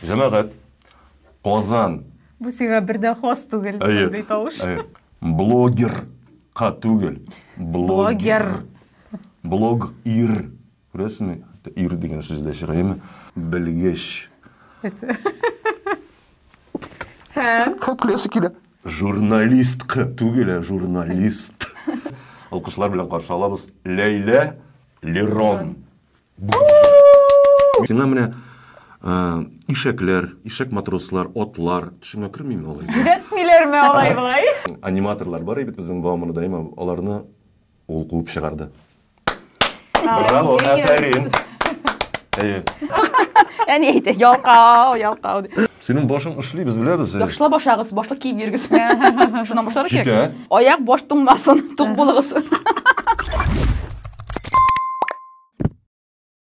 Җәмәгать, Казан. Бу сиңа бер дә хас түгел, мондый тавыш. Әйе, әйе. Блогер ка түгел. Блогер. Блог ир. Күрәсеңме? Ир дигән сүз дә чыга, әйеме? Белгеч. Һәм. Күп көләсе килә. Журналистка түгел, ә журналист. Алкышлар белән каршы алабыз Ләйлә Лерон. Сиңа менә ишәкләр, ишәк матрослар, атлар, төшеңә кермиме алай? Йөдәтмиләрме алай болай? Аниматорлар бар бит безнең Бауманы даима, аларны ул куып чыгарды. Браво, әфәрин. Әйе. Әни әйтә, ялкау, ялкау. Синең башың эшли, без беләбез. Яхшылап ашагыз, башлык киеп йөрегез. Шуннан башларга кирәк. Аяк баш туңмасын, тук булыгыз.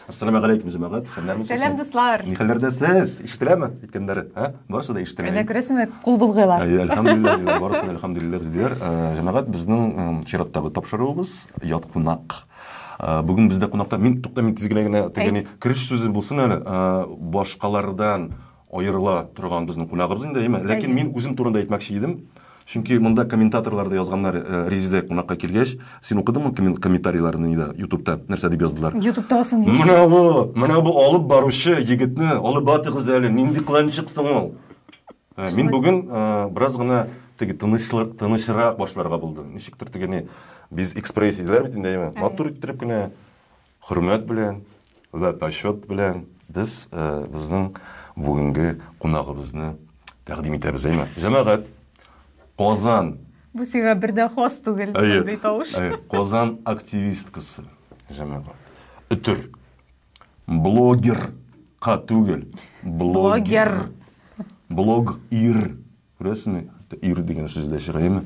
Ассаламу алейкум, җәмәгать. Сәлам Сәлам дуслар. Ни хәлләрдә сез? Ишетеләме? Әйткәннәре, һә? Барысы да ишетелә. Әнә күрәсеңме, кул булгыйлар. Әйе, әлхәмдулиллаһ диләр. Барысы да әлхәмдулиллаһ диләр. Җәмәгать, безнең чираттагы тапшыруыбыз ят кунак. Бүген бездә кунакта мин тукта мин тиз генә генә тегене кереш сүзе булсын әле. Башкалардан Аерыла торган безнең кунагыбыз инде, әйме? Ләкин мин үзем турында әйтмәкче идем. Чөнки монда комментаторлар да язганнар, э, Резидә кунакка килгәч, син укыдыңмы комментарийларны нидә, ютубта, нәрсә дип яздылар? Ютубтагы соң егет. Менә бу, менә бу алып баручы егетне алып батыгыз әле, нинди кыланчык соң ул? Э, мин бүген э, бераз гына теге тынычлы- тынычрак башларга булдым. Ничектер теге не без экспресс диделәр бит инде, әйме? Матур иттереп кенә Хөрмәт белән вә почет белән без безнең бүгенге кунагыбызны тәкъдим итәбез, әйме? Җәмәгать, Казан Бу сиңа бер дә хас түгел мондый тавыш. Әйе, Казан активисткасы, җәмәгать. Өтер. Блогер ка түгел, блогер. Блогер. Блог ир Күрәсеңме, ир дигән сүз дә чыгаймы?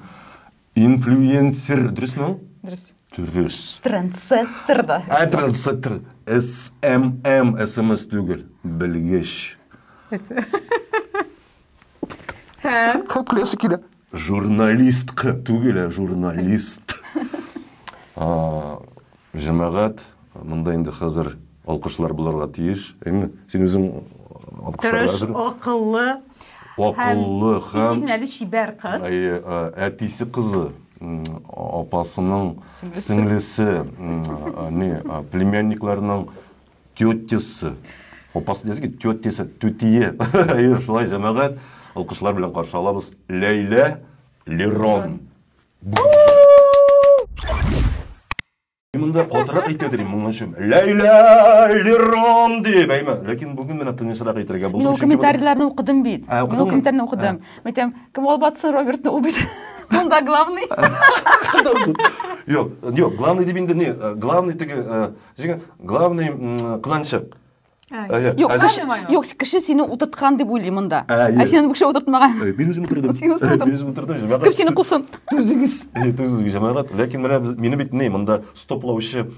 Инфлюенсер, дөресме ул? Дөрес. Дөрес. Трендсеттер да. Ә трендсеттер. СММ, СМС түгел. Белгеч. Һәм? Күп көләсе килә. Журналистка түгел, ә журналист. Җәмәгать, монда инде хәзер алкышлар булырга тиеш, әйме? Син үзең алкышларга әзерме? Тырыш, акыллы. Акыллы һәм... Изгенгәле, чибәр кыз. Әйе, әтисе кызы, апасының сеңлесе, не, племянникларының тетясы. Апасы диясе килде, тетясы, түтие. Әйе, шулай, җәмәгать, алкышлар белән каршы алабыз. Ләйлә, Лерон. Монда катырак әйтә дим моның өчен. Ләйлә Лерон дип әйме. Ләкин бүген менә тынысрак әйтергә булдым. Мин комментарийларны укыдым бит. Мин комментарийларны укыдым. Мәйтәм, кем алып атсын Робертны ул бит. Монда главный. Юк, юк, главный дип инде не, главный теге, җиңе, главный кыланчык. Юк, кеше, юк, кеше сине утырткан дип уйлый монда. Ә сине бу кеше утыртмаган. Мин үзем утырдым. Син утырдың. Мин үзем утырдым. Кем сине кусын? Түзегез. Түзегез, җәмәгать. Ләкин менә без мине бит ни, монда стоплаучы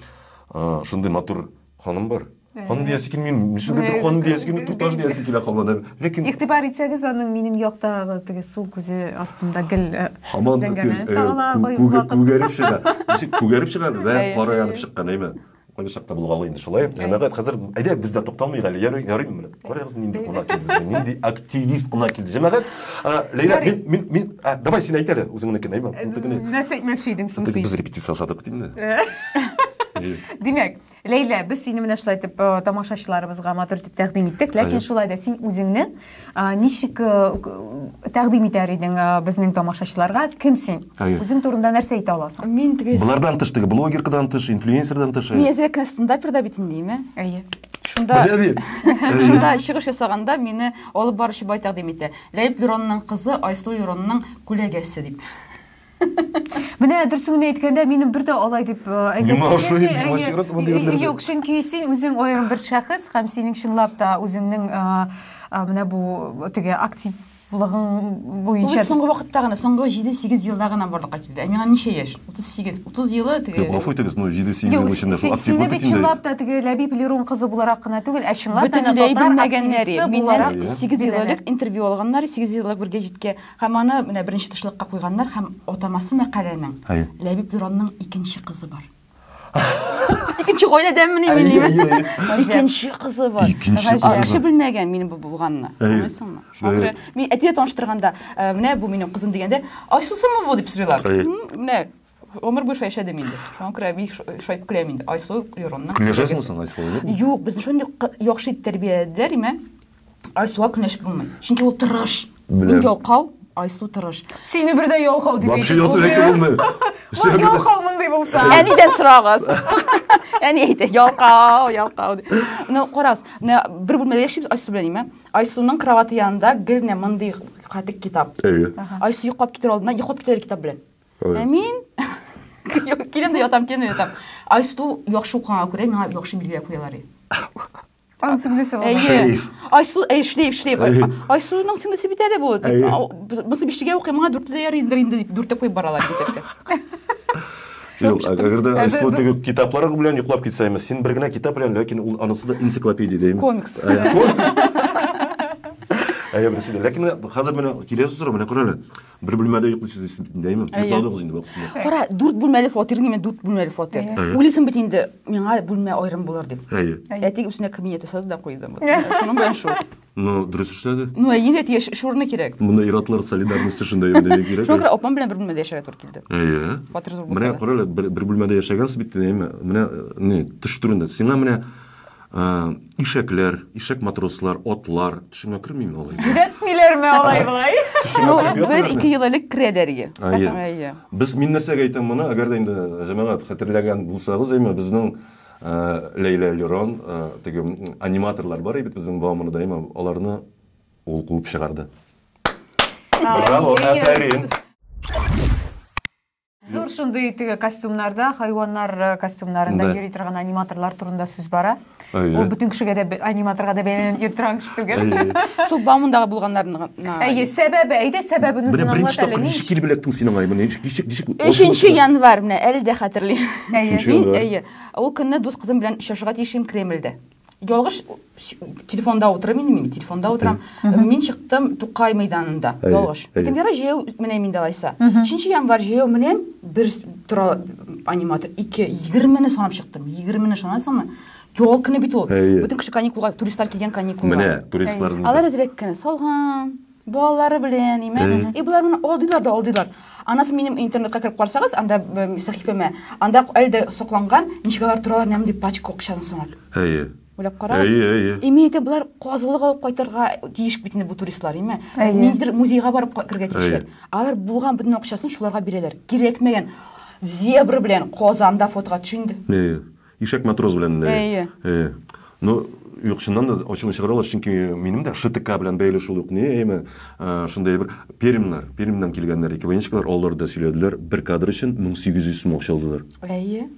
шундый матур ханым бар. Ханым диясе килми, мисүгә бер ханым диясе килми, туташ диясе килә кабладыр. Ләкин игътибар итсәгез, аның минем яктагы теге сул күзе астында гел хаман күгәреп чыга. Ничек күгәреп чыга? Бәлән кара янып чыккан, әйме? Кайбачак та булгалый инде шулай. Җәмәгать хәзер әйдә без дә тукталмыйк әле. Ярый, ярыймы менә? Карагыз нинди кунак килде безгә. Нинди активист кунак килде. Җәмәгать, Ләйлә, мин мин мин давай син әйт әле үзеңнекен, әйме? Нәрсә әйтмәкче идең соң син? Без репетиция ясадык дим дә. Димәк, Ләйлә, без сине менә шулай итеп тамашачыларыбызга матур итеп тәкъдим иттек, ләкин шулай да син үзеңне Ничек тәкъдим итәр идең безнең тамашачыларга? Кем син? Үзең турында нәрсә әйтә аласың? Мин теге... Болардан тыш теге блогеркадан тыш, инфлюенсердан тыш. Мин әзрәк кенә стендаперда бит инде, име? Әйе. Шунда... Шунда чыгыш ясаганда мине алып баручы бай тәкъдим итә. Ләеп Леронның кызы Айсылу Леронның күләгәсе дип. Менә дөресен генә әйткәндә, минем бер дә алай дип э, әйтәсем Миңа ошый, килми. миңа Әйе, очрат мондый берләрдә. Юк, чөнки син үзең аерым бер шәхес һәм синең чынлап та үзеңнең э, э, менә бу теге активлыгың Ул буенча бит соңгы вакытта гына, соңгы 7-8 елда гына барлыкка килде. Ә миңа ничә яшь? 38. 30 елы теге Юк, гафу итегез, ну 7-8 Юк, ел эчендә си- шул сине активлык бит бөтенләй. чынлап та теге Ләбиб Лерон кызы буларак кына түгел, ә чынлап та бөтенләй татар белмәгәннәре. активисты Миннән буларак Әйе. 8 ел элек интервью алганнар, 8 ел элек бер гәҗиткә Һәм аны менә беренче тышлыкка куйганнар һәм атамасы мәкаләнең Әйе. Ләбиб Дуранның икенче кызы бар. Икенче гаиләдәнмени мин Әйе, әйе, диме? әйе. Икенче кызы бар. Икенче Гаҗәп. кызы Кеше бар. белмәгән минем бу булганны. Әйе. Аңлыйсыңмы? Шуңа Әйе. күрә мин әтигә таныштырганда, ә, менә бу минем кызым дигәндә, Айсылсымы бу дип сорыйлар. Әйе. М, Менә Гомер буе шулай яшәдем инде. Шуңа күрә бик шайтып көләм инде. Айсылу Юронның. Көнләшәсеңме соң Айсылу белән? Юк, без шундый яхшы итеп тәрбияләделәр, имә. Айсылуга көнләшеп булмый. Чөнки ул тырыш. Мин ялкау, Айсу тырыш. Сине бер дә ялкау дип әйтеп булмый. Вообще ялкау булмый. Ул ялкау мондый булса. Әнидән сорагыз. Әни әйтә, ялкау, ялкау. Ну, карагыз, менә бер бүлмәдә яшибез Айсу белән, имә. Айсуның кроваты янында гел менә мондый катык китап. Әйе. Айсу йоклап китер алдыннан йоклап китәр китап белән. Ой. Ә мин киләм дә ятам, киләм дә ятам. Айсу яхшы укыганга күрә миңа яхшы билгеләр куялар. Аның сеңлесе бар. Әйе. Айсу, әй, шлейф, шлейф. Айсуның сеңлесе бит әле бу. Бусы биштегә укый, миңа дүртле дә ярый инде дип, дүртте куеп баралар Юк, әгәр дә Айсу теге китаплары белән йоклап китсәме, син бер генә китап белән, ләкин ул анысы да энциклопедия дим. Комикс. Комикс. Әйе, берсе дә. Ләкин хәзер менә киләсе сорау менә күрәле. Бер бүлмәдә йоклыйсыз дисез бит инде, әйме? Йокладыгыз инде вакытында. Кара, дүрт бүлмәле фатир ниме, дүрт бүлмәле фатир. Уйлыйсың бит инде, миңа бүлмә аерым булыр дип. Әйе. Әти үсенә кабинет ясады да куйды. Шуның белән шул. Ну, дөрес эшләде. Ну, әйе, әти яшь шурны кирәк. Моны иратлар солидарность өчен дә йөрдегез кирәк. Шуңа күрә апам белән бер бүлмәдә яшәргә туры килде. Әйе. Фатир зур булса. Менә карале, бер бүлмәдә яшәгәнсез бит, әйме? Менә не төш түрендә. Сиңа менә Ишәкләр, ишәк матрослар, атлар, төшеңә кермиме алай? Йөдәтмиләрме алай болай? Ну, бер ике ел элек керәләр иде. Әйе. Без мин нәрсәгә әйтәм моны, әгәр дә инде җәмәгать хәтерләгән булсагыз, әйме безнең Ләйлә Лерон, теге аниматорлар бар иде безнең Бауманы даима, аларны ул куып чыгарды. Браво, әфәрин. Зур шундый теге костюмнарда, хайваннар э, костюмнарында Да. йөри торган аниматорлар турында сүз бара. Ул Әйе. бөтен кешегә дә бе- аниматорга да бәйләнеп йөри торган кеше түгел. Әйе. Шул баумындагы булганнарны. Әйе, сәбәбе, әйдә сәбәбен Менә үзен аңлат беренче әле. тапкыр ничек килеп эләктең син аңа? Менә ничек ничек ничек? Өченче январь менә әле дә хәтерлим. Әйе. Өченче Мин январь. әйе, ул көнне дус кызым белән очрашырга тиеш идем Кремльдә. ялгыш телефонда утырам инде мин телефонда утырам мин чыктым тукай мәйданында ялгыш кемгәра җәяү менәм инде алайса өченче январь җәяү менәм бер тора аниматор ике егермене санап чыктым егермене санайсыңмы ял көне бит ул бөтен кеше каникулга туристлар килгән каникулга менә туристлар алар әзрәк кенә салган Балалары белән, име? И, болар менә алдыйлар да алдыйлар. Анасы минем интернетка кереп карсагыз, анда сәхифәмә, анда әле дә сакланган, ничек алар торалар, нәм дип пачка акчаны санап. Әйе. Уйлап карагыз. Әйе, әйе. И, мин әйтәм, болар казылык алып кайтырга тиеш бит инде бу туристлар, име? Ниндидер музейга барып кергә тиешләр. Алар булган бөтен акчасын шуларга бирәләр. Кирәкмәгән зебра белән Казанда фотога төш инде. Әйе. Ишәк матрос белән. Э, Әйе. Э, ну, юк, чыннан да ачуны чыгара аласыз, чөнки минем дә ШТК белән бәйле шул ук ни, әйме, э, шундый бер пермнар, Пермьннан килгәннәр, ике военщиклар, алар да сөйләделәр, бер кадр өчен 1800 сум акча алдылар. Әйе.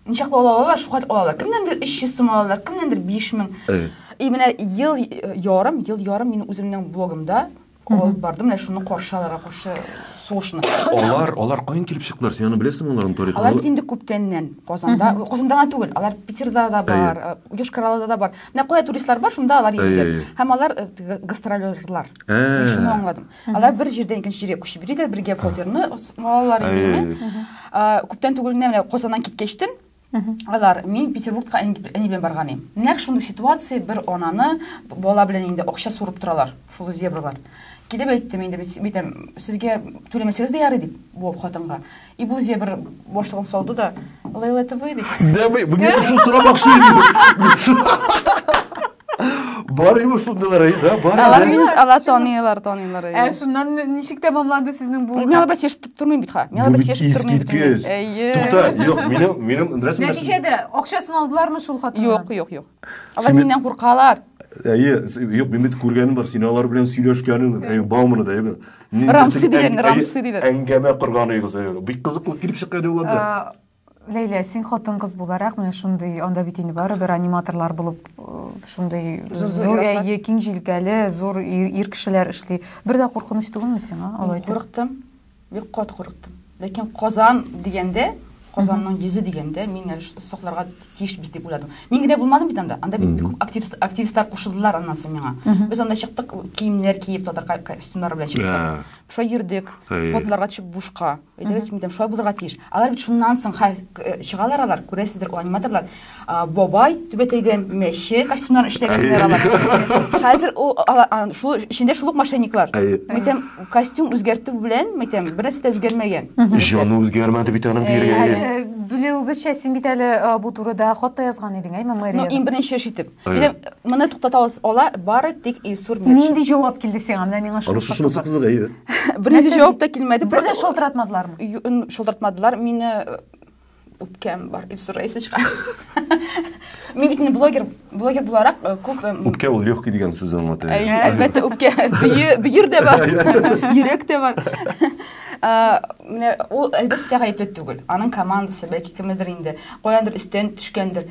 Ничаклы ала алалар, шуңа алалар. Кемнәндер 300 сум ала алалар, кемнәндер 5000. Әйе. И менә ел ярым, ел ярым мин үземнең блогымда алып барды менә шуны каршы алырга каршы сугышны алар алар каян килеп чыктылар син аны беләсеңме аларның тарихын алар бит инде күптәннән казанда казанда гына түгел алар питерда да бар йошкар да бар менә кая туристлар бар шунда алар йөриләр һәм алар гастролерлар мин шуны аңладым алар бер җирдән икенче җиргә күчеп йөриләр бергә фотерны алалар күптән түгел менә казаннан киткәчтен Алар, мин Петербургка әни белән барганым. Нәкъ шундый ситуация, бер ананы бала белән инде акча сурып торалар, шул зебралар. Килеп әйттем инде, битәм, сезгә түләмәсәгез дә ярый дип, бу хатынга. И бу зебр башлыгын салды да, Лейла, это вы? Да, вы, вы меня пришел срабак, что ли? Бар инде шундыйлар әй, да, бар. Алар мин алар таныйлар, таныйлар. Ә шуннан ничек тәмамланды сезнең бу? Мин аларга чешеп тормыйм бит ха. Мин аларга чешеп тормыйм бит. Әйе. Тукта, юк, минем минем нәрсә? Нәтиҗәдә акчасын алдылармы шул хатыннар? Юк, юк, юк. Алар миннән куркалар. Әйе, юк, мин бит күргәнем бар, син алар белән сөйләшкәнең, әйе, Бауманы да, әйе. Рамсы дигән, Рамсы дигән. Әңгәмә корган идегез, әйе. Бик кызыклы килеп чыккан юлларда. Ләйлә, син хатын-кыз буларак, менә шундый, анда бит инде барыбер аниматорлар булып шундый зур әйе, киң җилкәле, зур ир кешеләр эшли. Бер дә куркыныч түгелме сиңа алай? Курыктым. Бик кат курыктым. Ләкин Казан дигәндә, Казанның йөзе дигәндә мин сокларга тиешбез дип уйладым. Мин генә булмадым бит анда. Анда бик күп активист, активистлар кушылдылар аннан соң миңа. Без анда чыктык, киемнәр киеп, татар костюмнары белән чыктык. Шулай йөрдек, фотоларга төшеп бушка. Әйдәгез, мин шулай булырга тиеш. Алар бит шуннан соң хәл э, чыгалар алар, күрәсездер, ул аниматорлар. А, Бабай түбәтәйдән мәче костюмнарын эшләгәннәр алар. Хәзер ул ала- а, шул эчендә шул ук мошенниклар. Әйе. Мәйтәм, костюм үзгәртү белән, мәйтәм, бернәрсә дә үзгәрмәгән. Җаны үзгәрмәде бит аның Әйе, диергә. әйе. Ә, Белүебезчә, син бит әле а, бу турыда хат та язган идең, әйме, Ну, мэрияга? иң беренче эш итеп. Әйе. Менә туктата ала бары тик Илсур Метшин. Нинди җавап килде сиңа? Менә миңа шул Анысы шунысы кызык, әйе. Бернинди җавап та килмәде. Бер дә шалтыратмадылармы? Шалтыратмадылар. Мине э, үпкәм бар. Илсур Раисовичка. Мин бит блогер, блогер буларак э, күп э, Үпкә ул легкий дигән сүз аңлата. Әлбәттә, үпкә. Бөер дә бар. Йөрәк тә бар. Менә ул әлбәттә гаепле түгел. Аның командасы, бәлки кемедер инде, каяндыр өстән төшкәндер.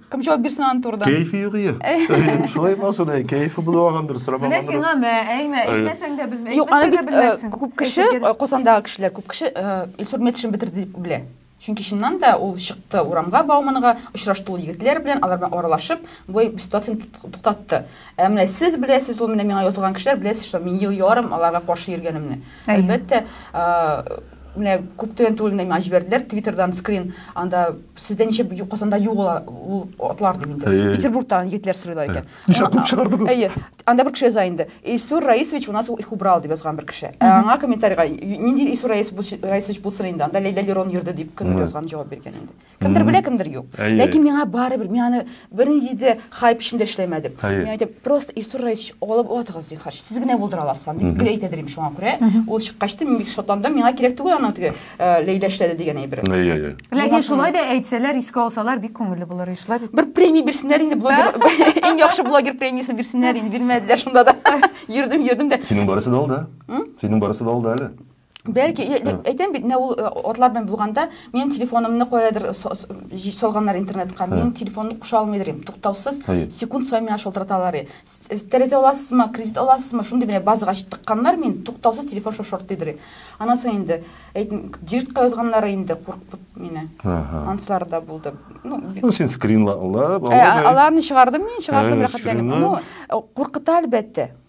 Кем җавап бирсен аны турыдан? Кәефе юк ие. Шулай булсын, әй, кәефе булу алгандыр, сорамагандыр. Менә сиңа мә, әйме, әйтмәсәң дә белмә. Юк, аны бит э, күп кеше, э, Казандагы кешеләр, күп кеше э, Илсур Метшин бетерде дип белә. Чөнки чыннан да ул чыкты урамга Бауманга, очрашты ул егетләр белән, алар белән аралашып, бу ситуацияне туктатты. Ә менә сез беләсез, ул менә миңа язылган кешеләр беләсез, что мин ел ярым аларга каршы йөргәнемне. Әлбәттә, менә күп түгел түгел миңа җибәрделәр твиттердан скрин анда сездә ничә казанда юк ул ул атлар дип инде э. петербургтан егетләр сорыйлар икән ничә күп чыгардыгыз әйе анда бер кеше яза инде исур раисович у нас их убрал дип язган бер кеше ә аңа комментарийга нинди исур раисович булсын инде анда ләйлә лерон йөрде дип кемдер язган җавап биргән инде кемдер белә кемдер юк әйе. ләкин миңа барыбер мин аны бернинди дә хайп эчендә эшләмәдем мин әйтәм просто илсур раисович алып атыгыз зинһар сез генә булдыра аласыз дип гел әйтә дим шуңа күрә ул чыккач та мин бик шатландым миңа кирәк түгел аның теге э, ләйлә эшләде дигән әйбер ләкин шулай да әйтсәләр искә алсалар бик күңелле булыр шулай бит бер премия бирсеннәр инде блогер иң яхшы блогер премиясын бирсеннәр инде бирмәделәр шунда да йөрдем йөрдем дә синең барысы да алда синең барысы да алда әле Бәлки, әйтәм бит, менә ул атлар белән булганда, минем телефонымны каядыр салганнар интернетка. Минем телефонны куша алмыйдыр идем. Туктаусыз секунд саен миңа шалтыраталар. Тәрәзә аласызмы, кредит аласызмы? Шундый менә базага чыктыкканнар мин, туктаусыз телефон шортыйдыр. Аннан соң инде, әйтим, директка язганнар инде, куркып мине. Анслар да булды. Ну, ну син скринлап, аларны чыгардым мин, чыгардым рәхәтләнеп. Ну, куркыта әлбәттә.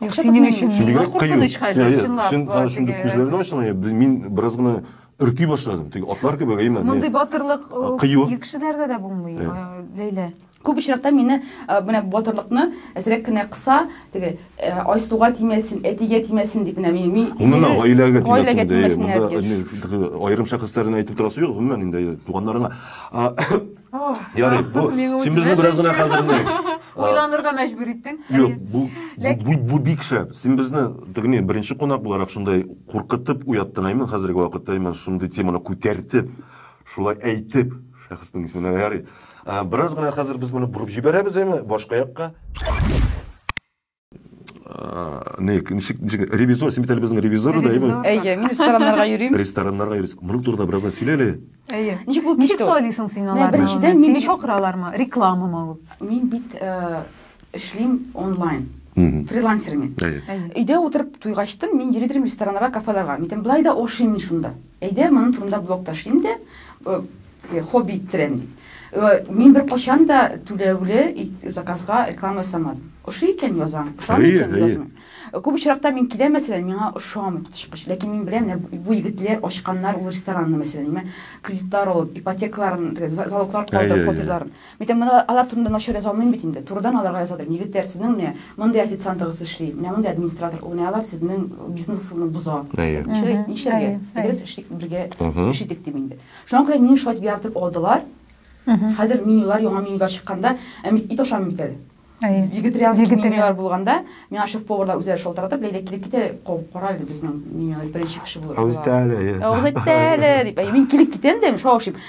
Юк, Акча синең өчен тотмыйм. миңа Бигрәк кыю. куркыныч Син хәзер, әйе, чынлап. син ба, хәзер шундый теге- күзләрне ачсаң, әйе, без- мин бераз гына өрки башладым. Теге атлар кебек, әйеме? Мин- Мондый батырлык э, Кыю. ир кешеләрдә дә булмый, Э. э, Ләйлә. Күп очракта мине э, менә батырлыкны әзрәк кенә кыса, теге э, Айсуга тимәсен, әтигә тимәсен дип менә мин. мин- Гомумән, мине- гаиләгә тимәсен Гаиләгә дә, әйе. тимәсен, Монда әтигә. әйе, аерым шәхесләрне әйтеп торасы юк, гомумән инде әйе, туганнарыңа. А, Ярый, бу син безне бераз гына хәзер Уйланырга мәҗбүр иттең. Юк, бу бу бу бик шәп. Син безне тегене беренче кунак буларак шундай куркытып уяттың, әймен хәзерге вакытта, әймен шундый теманы күтәртеп, шулай әйтеп, шәхеснең исеменә ярый. Бераз гына хәзер без моны бурып җибәрәбез, әйме, башка якка. не ничек ничек ревизор син бит әле безнең ревизор да әйеме әйе мин рестораннарга йөрим рестораннарга йөрисең моның турында бераздан сөйлә әле әйе ничек булып ничек сайлыйсың син аларны беренчедән мин чакыралармы рекламамы ул мин бит эшлим онлайн фрилансер мин өйдә утырып туйгачтын мин йөри торыйм рестораннарга кафеларга мин былай да ашыйм мин шунда әйдә моның турында блог ташлыйм да Э, хобби иттерәм дип э, мин бер качан да түләүле заказга реклама ясамадым ошый икән язам ошамый икән язмыйм э, күп очракта мин киләм мәсәлән миңа ошамый коточкыч ләкин мин беләм бу егетләр ачканнар ул ресторанны мәсәлән кредитлар алып ипотекаларын залоглар калдырып фатирларын мин әйтәм мына алар турында начар яза алмыйм бит инде турыдан аларга яза алмыйм егетләр сезнең менә мондый официантыгыз эшли менә мондый администратор менә алар сезнең бизнесны боза нишләргә бергә эш итик дип инде Шуңа күрә мине шулай дип яратып алдылар. Хәзер менюлар, яңа менюлар чыкканда, ә мин ит ашамыйм бит әле. Вегетарианский менюлар булганда, миңа шеф-поварлар үзләре шалтыратып, Ләйлә килеп китә, кабып кара әле безнең менюлар беренче кеше булып. Авыз итә әле. Авыз итә әле дип. Мин килеп китәм дә, шулай ашыйм.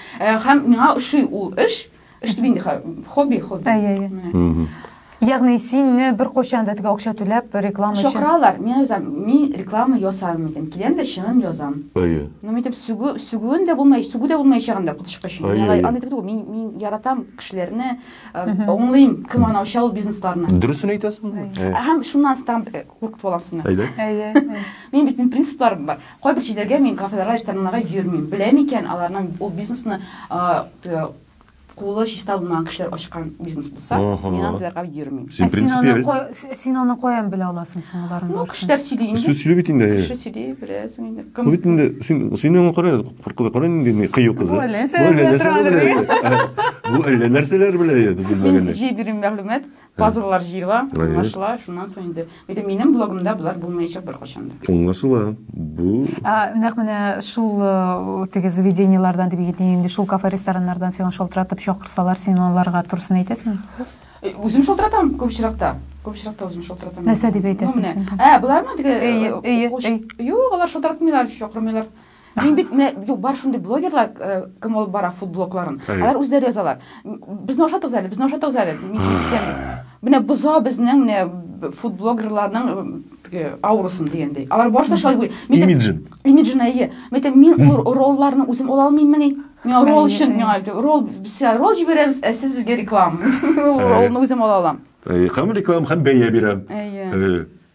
Һәм миңа ошый ул эш. Эш дип инде хобби, хобби. Әйе, әйе. Ягъни синне беркайчан да теге акча түләп реклама өчен. Чакыралар, мин язам, мин реклама ясамыйм дидем. Киләм дә чынын язам. Әйе. Ну мин дип сүгү, сүгүен дә булмай, сүгү дә булмаячагын да котышкы өчен. Аны аны дип мин мин яратам кешеләрне, аңлыйм, кем аны ача ул бизнесларны. Дөресен әйтәсең. Һәм шуннан соң тагын куркытып алам сезне. Әйдә. Әйе. Мин бит мин принципларым бар. Кайбер җилләргә мин кафедрага рестораннарга йөрмим. Беләм икән, аларның ул бизнесны кулы чиста булмаган кешеләр ачкан бизнес булса, мин андыйларга йөрмим. Син принципиаль. Син аны каян белә аласың соң аларның? Ну, кешеләр сөйли инде. Кешеләр сөйли бит инде. Кеше сөйли, беләсең инде. Кем? Бит инде, син син аңа кара, куркуда кара инде ни кыю кызы. Бу әллә нәрсәләр белә. Бу әллә нәрсәләр белә, без белмәгәндә. Мин җиберим мәгълүмат. Пазллар җыела, аңлашыла, шуннан соң инде. Әйтә, минем блогымда болар булмаячак беркайчан да. Аңлашыла. Бу Нәкъ менә шул э, теге заведениелардан дип әйтим инде, шул кафе-рестораннардан сиңа шалтыратып чакырсалар, син аларга турысын әйтәсеңме? Э, Үзем шалтыратам күп очракта. Күп очракта үзем шалтыратам. Нәрсә дип әйтәсең Ну, менә. син? Ә, болармы теге? Эйе, э, эйе, уш- эйе. Юк, алар шалтыратмыйлар, чакырмыйлар. Мин бит менә юк бар шундый блогерлар э, кем алып бара фудблокларын. Алар үзләре язалар. Безне ашатыгыз әле, безне ашатыгыз әле. Менә боза безнең менә фудблогерларның э, аурасын дигәндәй. Алар барысы шулай буй. Имиджин. Имиджин әйе. Мәтә мин ролларны үзем ала алмыйммени? Миңа ролл өчен миңа ролл без ролл җибәрәбез, ә сез безгә реклама. Роллны үзем ала алам. Әйе, һәм реклама һәм бәя бирәм. Әйе.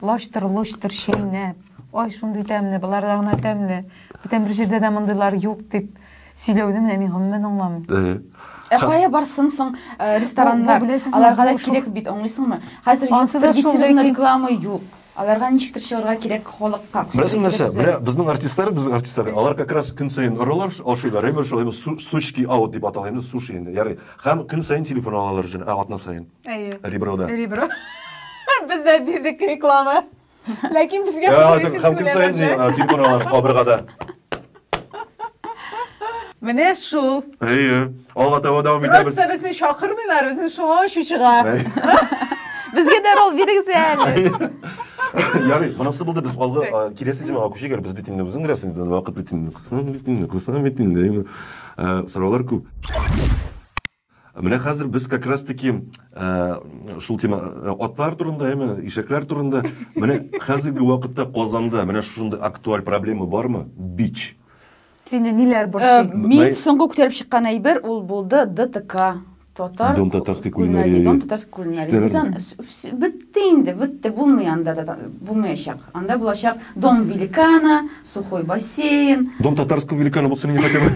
Лачтыр-лочтыр чәйнәп. Ай, шундый тәмле, боларда гына тәмле. Бүтән бер җирдә дә мондыйлар юк, дип сөйләүне менә мин гомумән аңламыйм. Әйе. Ә кая барсын соң э, рестораннар? Бу, беләсезме, Аларга да бу шул- кирәк бит, аңлыйсыңмы? Хәзер Ансы юктыр, да шул, гетероның ләкин- реклама юк. Аларга ничектер чыгарга кирәк халыкка. Беләсең нәрсә? Кирәк Менә безнең артистлар, безнең артистлар, алар как раз көн саен оралар, ашыйлар, әйбер шулай су- сучки аут дип атала инде, суши инде, ярый. Һәм көн саен телефон алалар үзенә, ә атна саен. Әйе. Реброда. Ребро. Без дә бирдек реклама. Ләкин безгә Һәм көн саен телефон алар кабыргада. Менә шул. Әйе. Алга таба дәвам итәбез. Просто безне чакырмыйлар, безне шуңа очу чыга. Безгә дә рол бирегез әле. Ярый, монысы булды без алгы киләсе темага күчегәр. Без бит инде үзең беләсең, вакыт бит инде. Кысам бит инде, кысам бит инде. Сораулар күп. Менә хәзер без как раз таки э, шул тема э, атлар турында, яме ишәкләр турында. Менә хәзерге вакытта Казанда менә шушындый актуаль проблема бармы? Бич. Сине ниләр э, борчый? Мин соңгы күтәреп чыккан әйбер ул булды ДТК. Татар Дом татарской кулинарии. Дом татарской кулинарии. Бездән бетте инде, бетте, булмый анда да булмаячак. Анда булачак Дом великана, сухой бассейн. Дом татарского великана булсын инде хотя бы.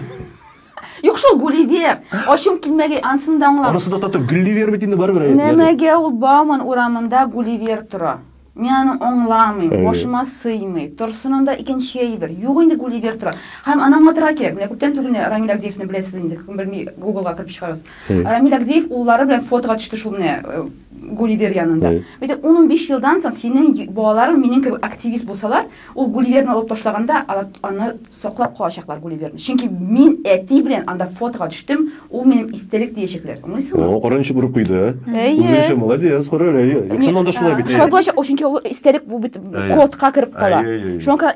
Юк шул Гулливер. Ачым килмәгәй ансын да аңлам. Анысы да тату Гулливер бит инде барыбер. Нәмәгә ул Бауман урамында Гулливер тора. Мин аны аңламыйм, башыма сыймый. Торсынын да икенче әйбер. Юк инде Гулливер тора. Һәм аны аңлатырга кирәк. Менә күптән түгел менә Рамил Агдеевны беләсез инде. Кем белми, Гуглга кереп чыгарыз. Рамил Агдеев уллары белән фотога төште шул менә э, Гулливер янында. Бит 10-15 елдан соң синең балаларың минем кебек активист булсалар, Ул Гулливерны алып ташлаганда, алар аны саклап калачаклар, Гулливерны. Чөнки мин әти белән анда фотога төштем, ул минем истәлек диячәкләр. Аңлыйсыңмы? О, караң ничек борып куйды, ә? Үзенчә молодец, кара әле, әйе. Юкса анда шулай бит. Шулай булачак, чөнки ул истәлек бу бит кодка кереп кала. Шуңа күрә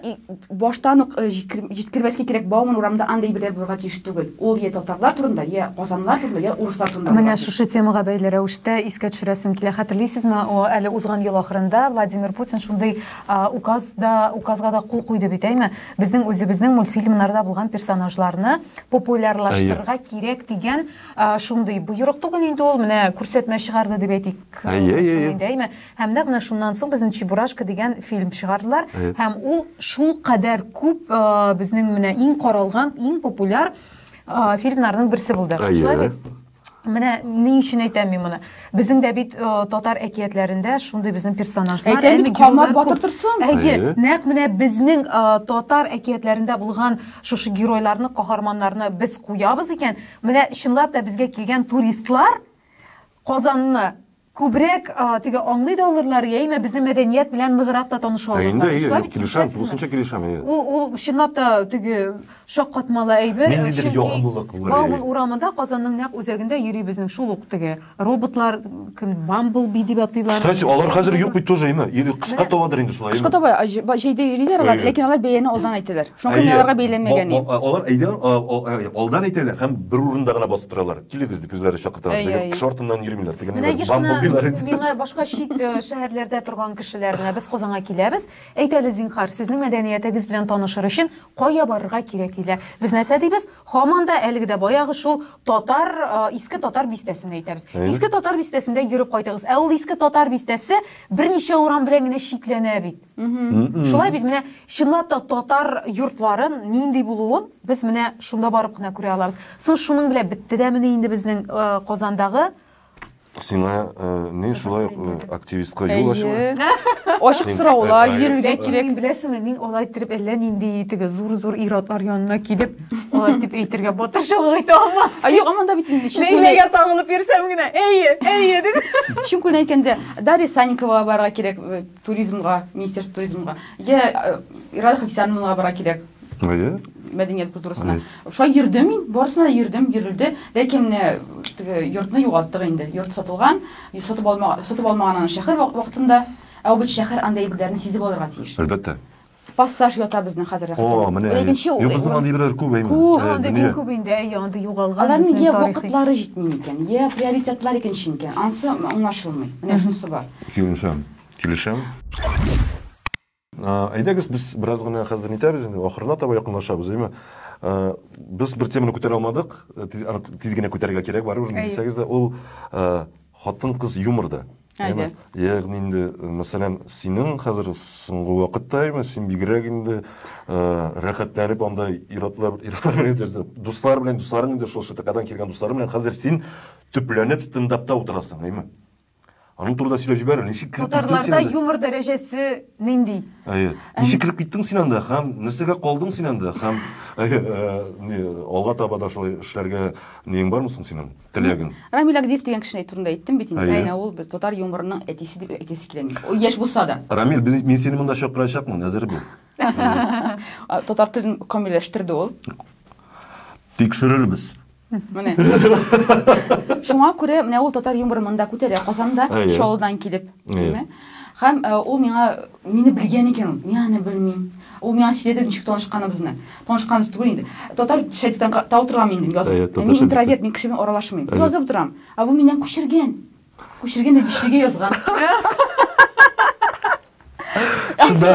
баштан ук җиткермәскә кирәк, Бауман урамында андый әйберләр булырга тиеш түгел. Ул я татарлар турында, я казанлылар турында, я урыслар турында. Менә шушы темага бәйле рәвештә искә төшерәсем килә. Хәтерлисезме, әле узган ел ахырында Владимир Путин шундый Указ да, указга да кул куйды бит, әйме? Безнең үзебезнең мультфильмнарда булган персонажларны популярлаштырырга кирәк дигән шундый боерык түгел инде ул, менә күрсәтмә чыгарды дип әйтик. Әйме? Һәм нәкъ менә шуннан соң безнең Чебурашка дигән фильм чыгардылар һәм ул шул кадәр күп безнең менә иң каралган, иң популяр фильмнарның берсе булды. Шулай бит? Менә ни өчен әйтәм мин моны? Безнең дә бит э, татар әкиятләрендә шундый безнең персонажлар, Әйтә бит, эмигрюлар Камар күп. батыр торсын. Әйе, Әйе. нәкъ менә безнең э, татар әкиятләрендә булган шушы геройларны, каһарманнарны без куябыз икән, менә чынлап та безгә килгән туристлар Казанны Күбрәк теге аңлый да алырлар, яимә безнең мәдәният белән ныграк та таныша алырлар. Инде, әйе, килешәм, тулысынча килешәм, әйе. Ул, ул чынлап та теге шаккатмалы әйбер. Мин нидер ягымлылык булыр. Бауман урамында Казанның нәкъ үзәгендә йөри безнең шул ук теге роботлар, кем Бамблби дип атыйлар. Кстати, алар хәзер юк бит тоже, әйме? Или кышка табадыр инде шулай. Кышка таба, җәйдә йөриләр алар, ләкин алар бәяне алдан әйтәләр. Шуңа күрә мин Әйе, аларга бәйләнмәгән бо- идем. бо- алар әйдә, а, о, ә, алдан әйтәләр һәм бер урында гына басып торалар. Килегез дип үзләре чакырталар. Әйе, Теге әйе. кеше артыннан йөрмиләр. Теге Менә ниләр, еш кына бамблбилар әйтеп. миңа башка чит э, шәһәрләрдә торган кешеләр менә без Казанга киләбез, әйт әле зинһар, сезнең мәдәниятегез белән танышыр өчен кая барырга кирәк диләр. Без нәрсә дибез? Һаман да әлеге дә баягы шул татар, э, иске татар бистәсен әйтәбез. Әйе. Иске татар бистәсендә йөреп кайтыгыз. Ә ул иске татар бистәсе берничә урам белән генә чикләнә бит. Шулай бит менә чынлап та татар йортларын нинди булуын без менә шунда барып кына күрә алабыз. Соң шуның белән бетте дә менә инде безнең э, Казандагы Сиңа э, не шулай э, активистка юл ачыла? Ачык сораулар бирергә кирәк. Беләсеңме, мин алай итеп әллә нинди теге зур-зур ир-атлар янына килеп, алай итеп әйтергә батырчылык итә алмас. А юк, аманда бит инде чын күңелдән. Ләйләгә тагылып йөрсәм генә, әйе, әйе дип. Чын күңелдән әйткәндә, Дарья Санникова барырга кирәк. Туризмга, министерство туризмга. Я э, Ирада Хафисяновнага бара кирәк. Әйе. Мәдәният культурасына. Шулай йөрдем мин, барысына йөрдем, йөрелде. Ләкин менә теге йортны югалттык инде. Йорт сатылган, сатып алма, сатып алмаган аны шәһәр вакытында. Ә ул бит шәһәр анда әйберләрне сизеп алырга тиеш. Әлбәттә. пассаж ята безнең хәзер О, менә. Икенче ул. Безнең андый берәр күп әйме. Күп, андый бик күп инде, әй, андый югалган. Аларның я вакытлары җитми микән, я приоритетлар икенче микән? Ансы аңлашылмый. Менә шунысы бар. Килешәм. Килешәм. Әйдәгез, без бераз гына хәзер нитәбез инде, ахырына таба якынлашабыз, әйме? Без бер теманы күтәрә алмадык, тиз генә күтәрергә кирәк, барыбер, дисәгез дә, ул хатын-кыз юморда. Әйдә. Ягъни инде, мәсәлән, синең хәзер соңгы вакытта именно син бигрәк инде рәхәтләнеп анда иратлар, иратлар дуслар белән, дусларың инде шул ШТКдан килгән дуслар белән хәзер син төпләнеп стендапта утырасың, әйме? Аның турында сөйләп җибәр, ничек килеп киттең син анда? юмор дәрәҗәсе нинди? Әйе. Ничек килеп киттең син анда һәм нәрсәгә калдың син анда һәм алга таба да шулай эшләргә ниең бармы соң синең? Теләгең. Рамил Агдиев дигән кешене әйтү турында әйттем бит инде. Әнә ул бер татар юморының әтисе дип әйтәсе килә мин. Ул яшь булса да. Рамил, мин сине монда чакырачакмын, әзер бул. Татар телен камилләштерде ул. Тикшерербез. Менә. Шуңа күрә менә ул татар юморы монда күтәрә Казанда, Чаллыдан килеп. Һәм ул миңа, мине белгән икән ул. Мин аны белмим. Ул миңа сөйләде ничек танышканыбызны. Танышканыбыз түгел инде. Татар шәдитән та утырган мин инде язып. Мин интроверт, мин кеше белән аралашмыйм. Язып утырам. Ә бу миннән күчергән. Күчергән дә бишлегә язган. Шунда.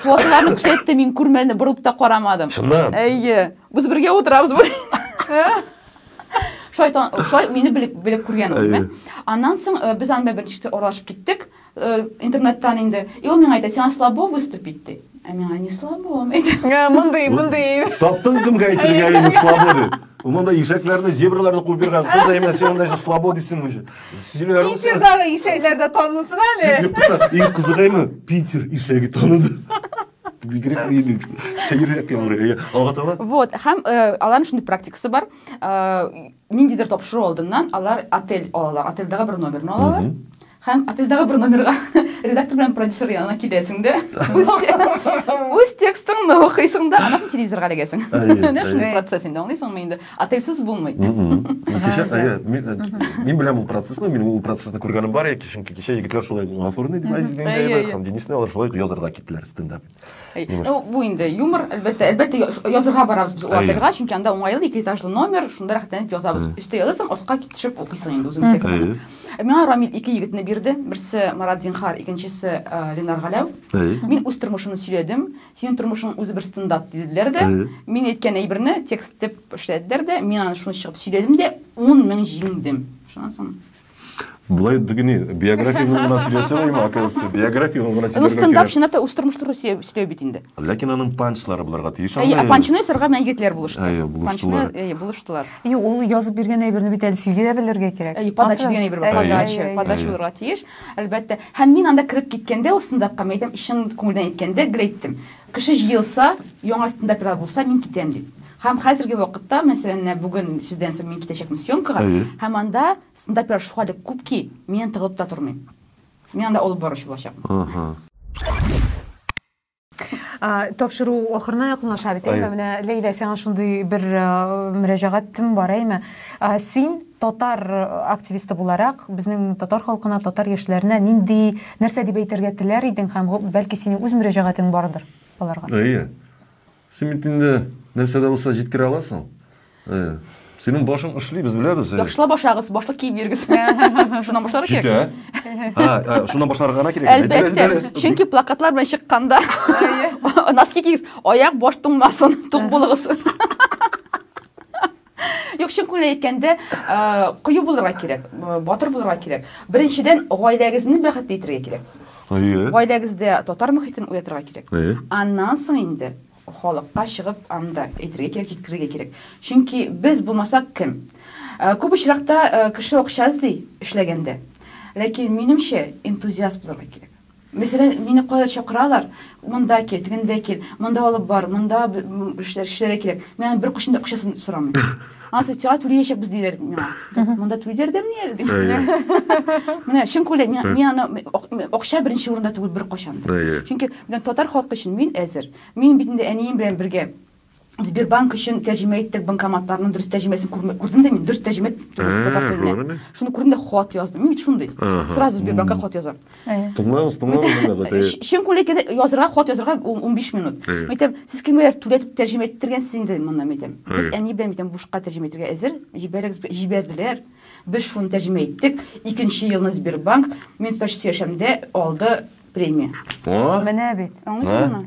Фотоларны күрсәтте, мин күрмәдем, борылып та карамадым. Шунда. Әйе. Без бергә утырабыз бу. шулай шулай мине белеп белеп күргән ул димәк аннан соң э, без аны белән беренче аралашып киттек э, интернеттан инде и ул миңа әйтә сиңа слабо выступить ди ә миңа не слабо э, мондый мондый таптың кемгә әйтергә инде слабо дип Уманда ишәкләрне, зебраларны куып биргән кыз әймә син анда слабо дисең уже. Сөйләр. Питердагы ишәкләрдә танылсын әле. Юк, Питер ишәге таныды. Бигрәк мин сәеррәк яңгырый. Алга таба. Вот, һәм э, аларның шундый практикасы бар. Э, ниндидер тапшыру алдыннан алар отель алалар. Отельдәге бер номерны алалар. Һәм отельдәге бер номерга редактор белән продюсер янына киләсең дә. Үз, үз текстыңны укыйсың да, анасын телевизорга эләгәсең. Әйе, Менә шундый әйе. процесс инде, аңлыйсыңмы инде? Атыйсыз булмый. Кичә, әйе, мин беләм ул процессны, мин ул процессны күргәнем бар, яки чөнки кичә егетләр шулай гафурный дип әйтгәнгә, һәм Денисны алар шулай язарга киттеләр стендап. Ну, бу инде юмор, әлбәттә, әлбәттә язарга барабыз без отельга, чөнки анда уңайлы, ике этажлы номер, шунда рәхәтләнеп язабыз. Өстә язасың, аска төшеп укыйсың инде үзең текстны. Миңа Рамил ике егетне бирде, берсе Марат Зинхар, икенчесе Ленар Галәү. Мин үз тормышымны сөйләдем, Синең тормышың үзе бер стандарт диделәр дә, мин әйткән әйберне текст итеп эшләделәр дә, мин аны шуны чыгып сөйләдем дә, 10 мең җиңдем. Шуннан соң Булай дигени, биографияны гына сөйләсәләр, оказывается, биографияны гына сөйләргә кирәк. Стандарт чынлап та үз тормыш туры сөйләү бит инде. Ләкин аның панчлары булырга тиеш. Әйе, панчны сырга мән егетләр булышты. Әйе, булыштылар. Әйе, булыштылар. Юк, ул язып биргән әйберне бит әле сөйли дә белергә кирәк. Әйе, подача дигән әйбер бар. Подача, подача булырга тиеш. Әлбәттә. Һәм мин анда кереп киткәндә, ул стендапка, мин әйтәм, чын күңелдән әйткәндә, гел әйттем, кеше җыелса, яңа стендаперлар булса, мин китәм дип. Һәм хәзерге вакытта, мәсәлән, менә бүген сездән соң мин китәчәкмен съемкага, һәм анда стендаперлар шулкадәр күп ки, миннән тыгылып та тормыйм. Мин анда алып баручы булачакмын. Тапшыру ахырына якынлаша бит, әйме? Менә Ләйлә, сиңа шундый бер мөрәҗәгатем бар, әйме? Син татар активисты буларак, безнең татар халкына, татар яшьләренә нинди, нәрсә дип әйтергә теләр идең һәм бәлки синең үз мөрәҗәгатең бардыр аларга? Әйе. Син бит инде нәрсә дә булса җиткерә аласың. Әйе. Синең башың эшли, без беләбез. Яхшылап башлагыз, башлык киеп йөрегез. Шуннан башларга кирәк. Җитә. Ха, ә, шуннан башларга гына кирәк. Әлбәттә. Чөнки плакатлар белән чыкканда носки кигез, аяк баш туңмасын, тук булыгыз. Юк, чын күңелдән әйткәндә, кыю булырга кирәк, батыр булырга кирәк. Беренчедән, гаиләгезне бәхетле итәргә кирәк. Әйе. Гаиләгездә татар мөхитен уятырга кирәк. Әйе. Аннан соң инде Халыкка чыгып аны да әйтергә кирәк, җиткерергә кирәк. Чөнки без булмасак кем? Э, күп очракта э, кеше акча эзли эшләгәндә. Ләкин минемчә энтузиаст булырга кирәк. Мәсәлән, мине кая чакыралар, монда кил, тегендә кил, монда алып бар, монда эшләргә кирәк. Мин бер кошын да акчасын сорамыйм. Ансы сиңа түли яшәкбез диләр миңа. Монда түли дәрдә мени әле дип. Менә чын күләм, мин аны акча беренче урында түгел бер кашан. Чөнки менә татар халкы өчен мин әзер. Мин бит инде әнием белән бергә Сбербанк өчен тәрҗемә иттек банкоматларның дөрес тәрҗемәсен күрдем дә мин дөрес тәрҗемә түгел татар теленә. Шуны күрдем дә хат яздым. Мин бит шундый. Сразу Сбербанкка хат язам. Тыңлагыз, тыңлагыз менә бит. Э, чын күлекне язырга, хат язырга 15 минут. Мәйтәм, сез кемгә түләтеп тәрҗемә иттергәнсез инде монда мәйтәм. Без әни белән мәйтәм бушка тәрҗемә итәргә әзер. Җибәрегез, җибәрделәр. Без шуны тәрҗемә иттек. Икенче елны Сбербанк мин таш яшәмдә алды премия. Менә бит. Аңлыйсызмы?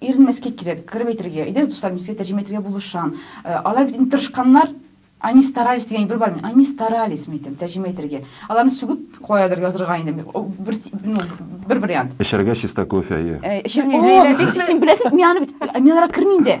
Иренмәскә кирәк, кырып әйтергә. Әйдәгез, дуслар, мин сезгә тәрҗемә итергә булышам. Алар бит инде тырышканнар. Они старались дигән әйбер бармы? Они старались, мин әйтәм, тәрҗемә итәргә. Аларны сүгеп каядыр язырга инде. Бер, ну, бер вариант. Эчәргә чиста кофе, әйе. Эчәргә. О, бик син беләсең, мин аны бит, мин аларга кермим дә.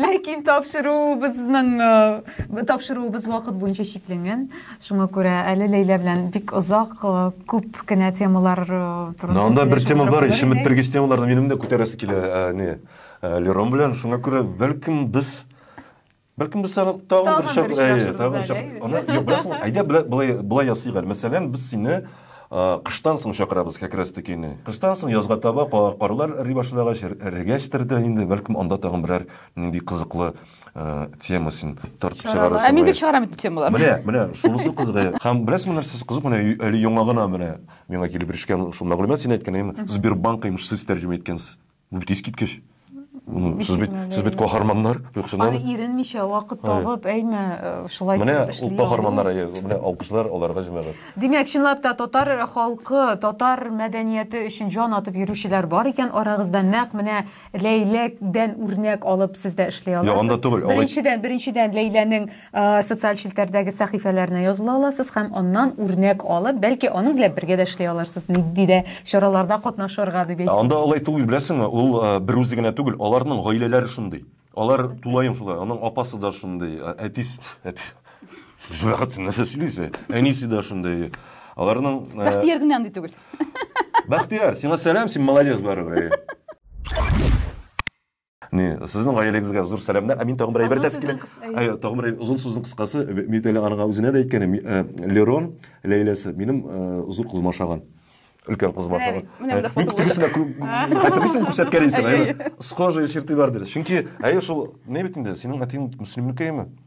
Ләкин тапшыруыбызның э, тапшыруыбыз вакыт буенча чикләнгән. Шуңа күрә әле Ләйлә белән бик озак э, күп кенә темалар э, турында. Анда бер тема бар, ишемет бергез темаларны минем дә күтәрәсе килә, не. Лерон белән шуңа күрә бәлкем без Бәлкем без аны тагын бер шәп, әйе, тагын шәп. Аны юк, беләсең, әйдә былай былай ясыйк әле. Мәсәлән, без сине Кыштан соң чакырабыз Кәкре Стыкине. Кыштан соң, язга таба, карлар эри башлагач, эрегәчтер дә инде, бәлкем анда тагын берәр нинди кызыклы тема син тартып чыгарырсың. Ә мин гел чыгарам бит темаларны. Менә, менә шунысы кызык. Һәм беләсеңме нәрсәсе кызык, менә әле яңа гына менә миңа килеп ирешкән шул мәгълүмат, син әйткән, Сбербанк имеш сез тәрҗемә иткәнсез. Бу бит искиткеч. Сез бит, сез бит каһарманнар, юксына. Аны иренмичә вакыт табып, әйме, э, шулай Менә ул каһарманнар, э, менә алкышлар аларга җәмәгать. Димәк, чынлап та татар халкы, татар мәдәнияте өчен җан атып йөрүчеләр бар икән арагызда. Нәкъ менә Ләйләдән үрнәк алып сез дә эшли аласыз. Ягында түгел. Беренчедән, беренчедән Ләйләнең Социаль челтәрдәге сәхифәләренә языла аласыз һәм аннан үрнәк алып, бәлки аның белән бергә дә эшли алырсыз, нинди дә чараларда катнашырга дип әйтте. Анда алай түгел, беләсеңме, ул бер үзе генә түгел, аларның гаиләләре шундый. Алар тулаем шулай, аның апасы да шундый, әтис, әти, Зөләхәт, син нәрсә сөйлисең? Әнисе дә шундый. Аларның Бәхтияр генә андый түгел. Бәхтияр, сиңа сәлам, син молодец барыбер. Ни, сезнең гаиләгезгә зур сәламнәр. Ә мин тагын бер әйбер дә килә. Әйе, тагын бер озын сүзнең кыскасы, мин әле аңа үзенә дә әйткәнем, э, Лерон Ләйләсе минем э, зур кызыма ошаган. Өлкән кызыма ошаган. Менә монда фото. Тегесенә хәтерлисең күрсәткән идем сиңа. Схожие черты бар диде. Чөнки әйе шул, ни бит инде, синең әтиң мөслимнекеме?